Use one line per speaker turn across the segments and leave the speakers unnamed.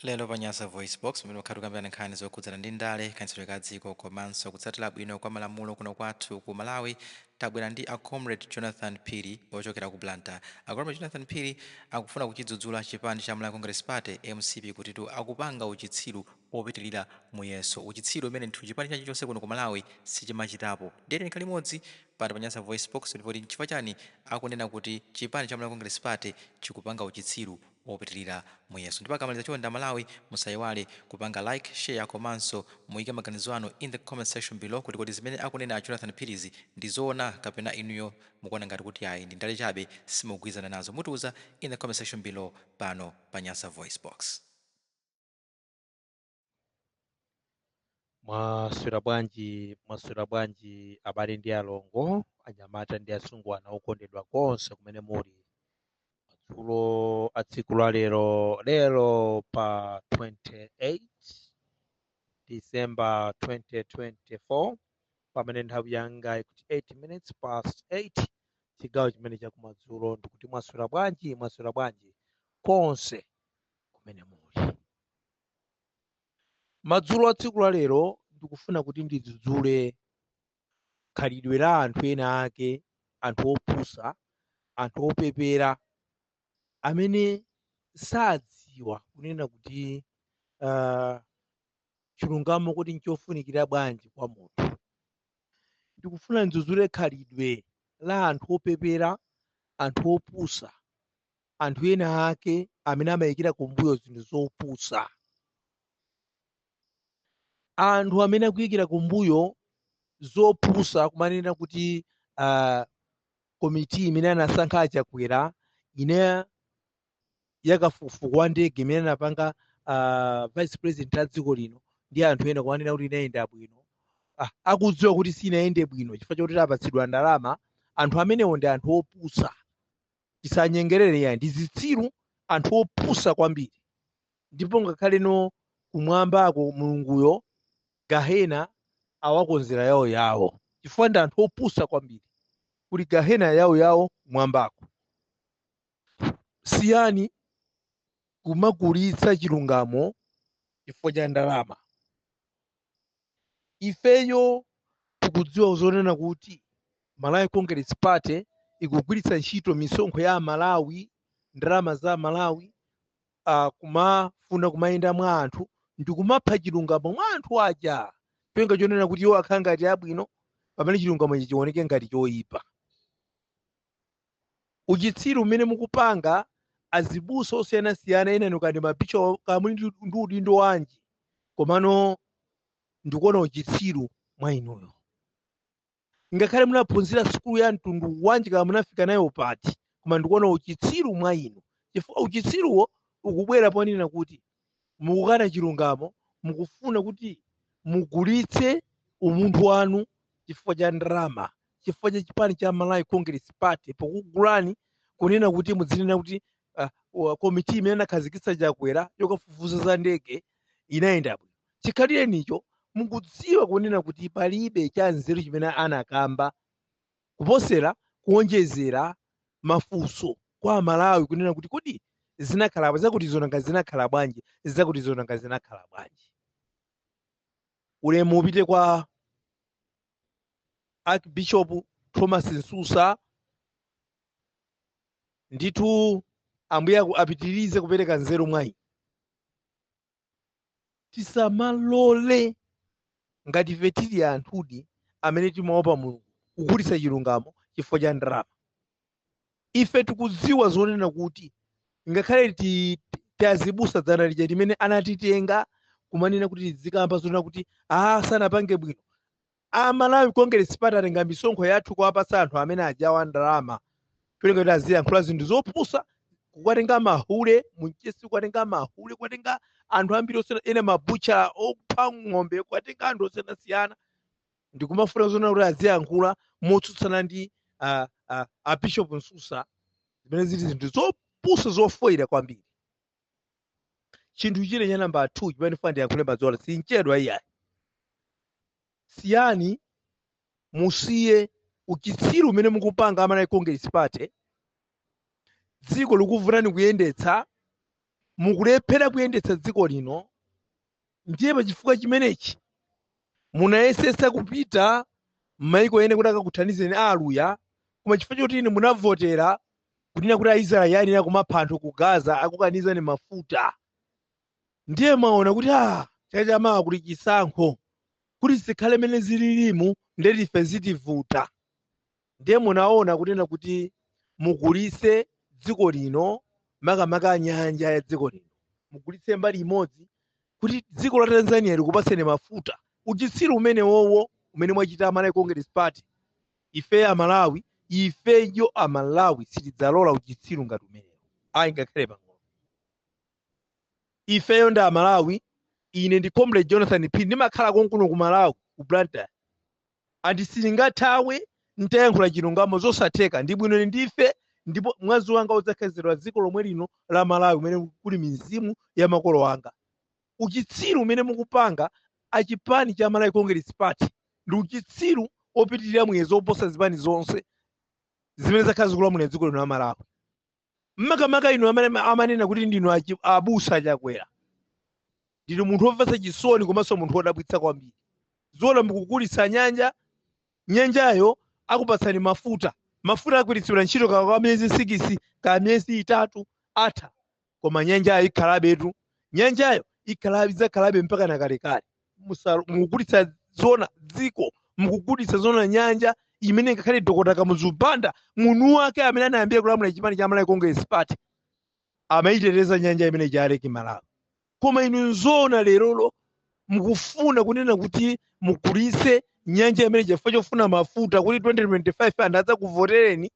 Lero pa Nyasa VoiceBox, pamene pakhala tikukambirana nkhani zokhudzana ndi ndale, kayendetsedwe ka dziko komanso kutsatira bwino kwa malamulo kuno kwathu ku Malawi, tabwera ndi a Comrade Jonathan Phiri ochokera ku Blantyre. A Comrade Jonathan Phiri akufuna kuchidzudzula chipani cha Malawi Congress Party, mcp, kutitu akupanga uchitsiru opitilira muyezo, uchitsiru umene ndithu chipani china chilichonse kuno ku Malawi sichimachitapo. Ndiye tiyeni tikhale limodzi pano pa Nyasa VoiceBox, ndipo kodi nchifukwa chani akunena kuti chipani cha Malawi Congress Party chikupanga uchitsiru? opitilira muyezo ndipo akamaliza chonde amalawi musaiwale kupanga like, share komanso muike maganizo anu in the comment section below kuti kodi zimene akunena a Jonathan Phirizi ndi zoona kapena inuyo mukuona ngati kuti ayi ndi ndale chabe simukugwilizana nazo mutiuza in the comment section below pano pa Nyasa VoiceBox.
mwaswera bwanji mwaswera bwanji abale ndi alongo anyamata ndi asungwana okondedwa konse kumene muli madzulo a tsiku la lero lero pa 28 december 2024 pamene nthawi yanga ikuti 8 minutes past 8 chigawo chimene chakumadzulo ndikuti mwaswera bwanji mwaswera bwanji konse kumene muli Madzulo a tsiku la lero ndikufuna kuti ndidzudzule khalidwe la anthu ena ake, anthu opusa, anthu opepera amene sadziwa kunena kuti uh, chilungamo kuti nchofunikira bwanji kwa munthu. Ndikufuna ndidzudzule khalidwe la anthu opepera, anthu opusa anthu ena ake amene amayikira kumbuyo zinthu zopusa anthu amene akuyikira kumbuyo zopusa kumanena kuti uh, komiti imene anasankha achakwera ija yakafukufuku wa ndege imene anapanga uh, vice president a dziko lino ndi anthu ena kumanena kuti inayenda bwino ah, akudziwa kuti sinayende bwino chifukwa chakuti apatsidwa ndalama anthu amenewo ndi anthu opusa tisanyengerere yayi ndi zitsiru anthu opusa kwambiri ndipo ngakhale no kumwambako mulunguyo gahena awakonzera yawo yawo chifukwa ndi anthu opusa kwambiri kuti gahena yawo yawo kumwambako siyani kumagulitsa chilungamo chifukwa cha ndalama ifeyo tikudziwa zonena kuti Malawi Congress Party ikugwiritsa ntchito misonkho ya Amalawi, ndalama za Amalawi, uh, kumafuna kumayenda mwa anthu ndikumapha chilungamo mwa anthu aja cholinga chonena kuti iwo akhale ngati abwino pamene chilungamo chizioneka ngati choyipa. uchitsiru umene mukupanga azibusa osiyanasiyana ena inu kaya ndi mabishop kaya muli ndi udindo wanji komano ndikuona uchitsiru mwa inuyo ngakhale munaphunzira sukulu ya mtundu wanji kaya munafika nayo pati koma ndikuona uchitsiru mwa inu chifukwa uchitsiruwo ukubwera ponena kuti mukukana chilungamo mukufuna kuti mugulitse umunthu wanu chifukwa cha ndalama chifukwa cha chipani cha malawi congress party pokugulani kunena kuti mudzinena kuti komiti imene anakhazikitsa chakwera yokafufuza za ndege inayenda bwino chikhalirenicho mukudziwa kunena kuti palibe cha nzeru chimene anakamba Kuposera kuonjezera mafunso kwa amalawi kunena kuti kodi zinakhala zakutizo, nanga zinakhala bwanji zakutizo nanga zinakhala bwanji. Ulemu upite kwa Archbishop Thomas Msusa ndithu ambuye apitirize kupereka nzeru mwa inu. tisamalole ngati ife tili anthudi amene timaopa mulungu kugulitsa chilungamo chifukwa cha ndalama ife tikudziwa zonena kuti ngakhale tiazibusa dzana lija limene anatitenga kumanena kuti tidzikamba zonena kuti aa sanapange bwino A Malawi Congress Party atenga misonkho yathu kuwapatsa anthu amene ajaira ndalama cholinga kuti aziyankhula zinthu zopusa kuwatenga mahule ku mchesi kuwatenga mahule kuwatenga anthu ambiri osiyana ena mabucha opha ng'ombe kuwatenga anthu osiyanasiyana ndikumafuna zonena kuti aziyankhula motsutsana ndi a bishop msusa zimene zili zinthu zopusa zofoyira kwambiri chinthu china cha namba 2 chimene ndifuna ndiyankhule madzulo sinchedwa iyayi siyani musiye uchitsiru umene mukupanga a malawi congress party dziko likuvutani kuyendetsa mukulephera kuyendetsa dziko lino ndiye pa chifukwa chimenechi munayesetsa kupita m'mayiko ena kuti akakuthandizeni a aluya koma chifukwa choti inu munavotera kunena kuti aisraeli ayenera kumapha anthu ku gaza akukanizani mafuta ndiye mwaona kuti a chaka chamawa kuli chisankho kuti zikhale mene zililimu ndiye kuti ife zitivuta ndiye munaona kunena kuti mugulitse dziko lino makamaka nyanja ya dziko lino mugulitse mbali imodzi kuti dziko la tanzania likupatseni mafuta uchitsiru umenewowo umene mwachita amalawi congress party ifeyo amalawi ifeyo amalawi sitidzalola uchitsiru ngati umenewo ayi ngakhale pang'ono ifeyo ndi amalawi ine ndi comrade jonathan phiri ndimakhala konkuno ku malawi ku blantyre ati silingathawe ntayankhula chilungamo zosatheka ndibwino ine ndife ndipo mwazi wanga udzakhetsedwa dziko lomwe lino la malawi umene kuli mizimu ya makolo anga uchitsiru umene mukupanga achipani cha malawi congress party ndi uchitsiru opitirira muyezo oposa zipani zonse zimene zakhala zikulamulira dziko lino la malawi makamaka inu amene ma- amanena kuti ndinu achi- abusa a chakwera ndinu munthu womvetsa chisoni komanso munthu wodabwitsa kwambiri zoona mukugulitsa nyanja nyanjayo akupatsani mafuta mafuta agwiritsidwa ntchito ka kwa miyezi sikisi ka miyezi itatu atha koma nyanjayo ikhalabetu nyanjayo ikhalabe idzakhalabe mpaka na kalekale musalo- mukugulitsa zona dziko mukugulitsa zona nyanja imene ngakhale dokota kamuzu banda munthu wake amene anayambira kulamula chipani cha malawi congress party amayiteteza nyanja imeneija lake malawi koma inu zoona lerolo mukufuna kunena kuti mugulitse nyanja imeneyi chifukwa chofuna mafuta kuti 2025 anthu adzakuvotereni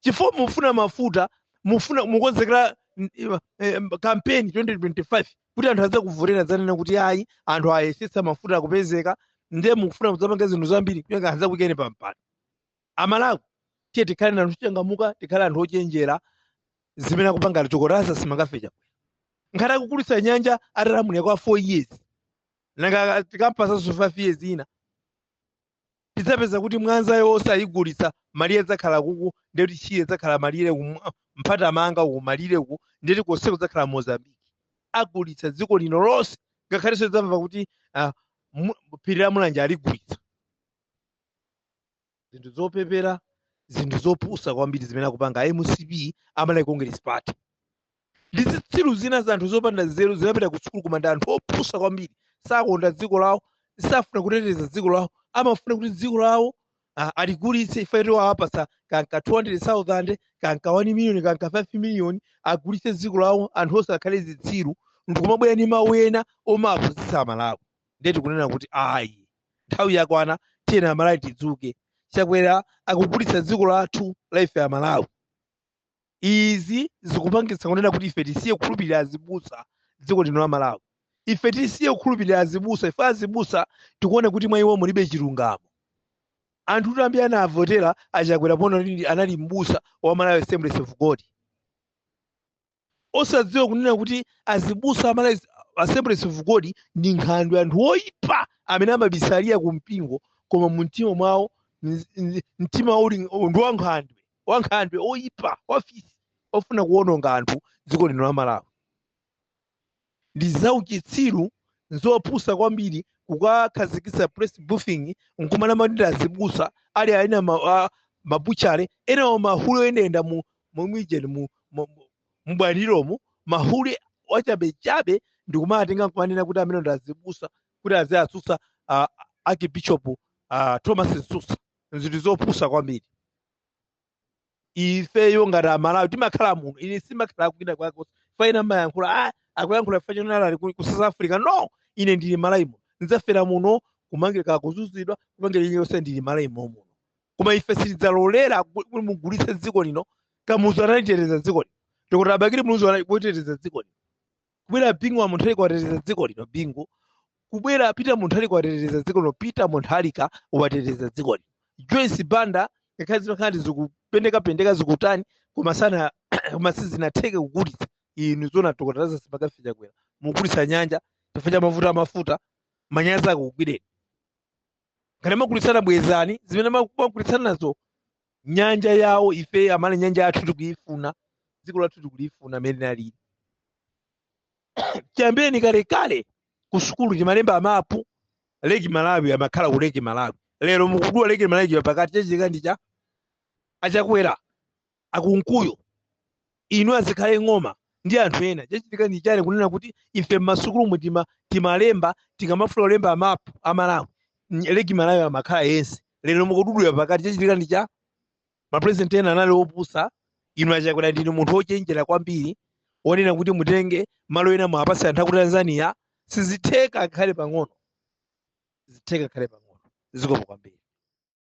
chifukwa mufuna mafuta mufuna mukonzekera mm, eh, eh, kampeni 2025 kuti anthu adzakuvotereni adzanena kuti ayi anthu ayesetsa mafuta akupezeka ndiye mukufuna kudzapanga zinthu zambiri kuyenda adzakuyikeni pampando amalawi tiye tikhale na anthu ochangamuka tikhale anthu ochenjera zimene akupanga achakwerazi simangafecha ngati akugulitsa nyanja atalamulira kwa 4 years nanga tikampatsanso 5 years ina tidzapeza kuti mwanzayo yonse ayigulitsa malire adzakhala kuku ndiye kuti shire adzakhala malire ku mpatamanga uku malire uku ndiye kuti konseko kudzakhala mozambique agulitsa dziko lino lonse ngakhalenso tidzamva kuti ah, mu- phiri la mulanje aligulitsa zinthu zopepera zinthu zopusa kwambiri zimene akupanga a mcp a malawi congress party ndi zitsiru zina za anthu zopanda nzeru zinapita ku sukulu koma ndi anthu opusa kwambiri sakonda dziko lawo safuna kuteteza dziko lawo amafuna kuti dziko lawo ah, aligulitse ifeyo awapatsa kanka 200000 kanka 1 million kanka 5 million agulitse dziko lawo anthu onse akhale zitsiru ndikumabwera ndi mawu ena omawapusitsa amalawi ndiye tikunena kuti ayi nthawi yakwana tiyeni amalawi tidzuke chakwera akugulitsa dziko lathu la ife amalawi izi zikupangitsa kunena kuti ife tisiye kukhulupirira azibusa dziko lino la malawi ife tisiye kukhulupirira azibusa ife azibusa tikuona kuti mwa iwo mulibe chilungamo anthu kuti ambiri anavotera achakwera poona kuti anali mbusa wa malawi assemblies of god osadziwa kunena kuti azibusa a malawi assemblies of god ndi nkhandwe anthu oyipa amene amabisalira ku mpingo koma mu mtima mwawo mtima uli ndi wa nkhandwe ankhandwe oyipa afisi ofuna kuwononga anthu dziko lino la malawi ndi zauchitsiru nzopusa kwambiri kukakhazikitsa press briefing nkumanama ndi azibusa ali ena ma, a- mabuchale enawo mahule oyendayenda mu mu mwijeni mu mu- mu- mubwaliromu mahule achabechabe ndikumatenga nkumanena kuti amenewa ndi azibusa kuti aziwatsutsa ah, archbishop ah, thomas msusa nzinthu zopusa kwambiri ifeyo ngati amalawi timakhala muno ine sindimakhala kwina kwake komwe ena amayankhula ah, akuyankhula fwa chonama ali ku ku south africa no ine ndili malawi muno ndidzafera muno kumangidwa kuzunzidwa kupangidwa ine yonse ndili malawi mommuno koma ife sitidzalolera ku- kuti mugulitse dziko lino kamuzu analiteteza dziko lino dokotala abakili muluzi analiteteza dziko lino kubwera bingu wa mutharika wateteza dziko lino bingu kubwera peter mutharika wateteza dziko lino peter mutharika wateteza dziko lino joyce banda ngakhale zimakhala ndi zikupendekapendeka zikutani koma sana koma sizinatheke kugulitsa inu zona dokotala lazarus makafe chakwera mugulitsa nyanja chifukwa cha mavuto amafuta manyazi akugwireni ngati mwagulitsana bwezani zimene mwagulitsanazo nyanja yawo ife amene nyanja yathu tikuyifuna dziko lathu tikulifuna mmene linalili chiyambireni kalekale ku sukulu timalemba mapu leki malawi amakhala ku leki malawi lero mukudula leki malawi pakati chachitika ndi chani achakwera ankunkuyu inu azikhale ng'oma ndi anthu ena chachitika ndi chani kunena kuti ife mmasukulumu tima timalemba tikamafuna kulemba mapu a malawi ny- leki malawi amakhala yense lero mukududula pakati chachitika ndi chani mapresident ena anali opusa inu achakwera ndinu munthu ochenjera kwambiri wonena kuti mutenge malo ena muwapatse anthu aku tanzania sizitheka ngakhale pang'ono sizitheka ngakhale pang'ono zikomo kwambiri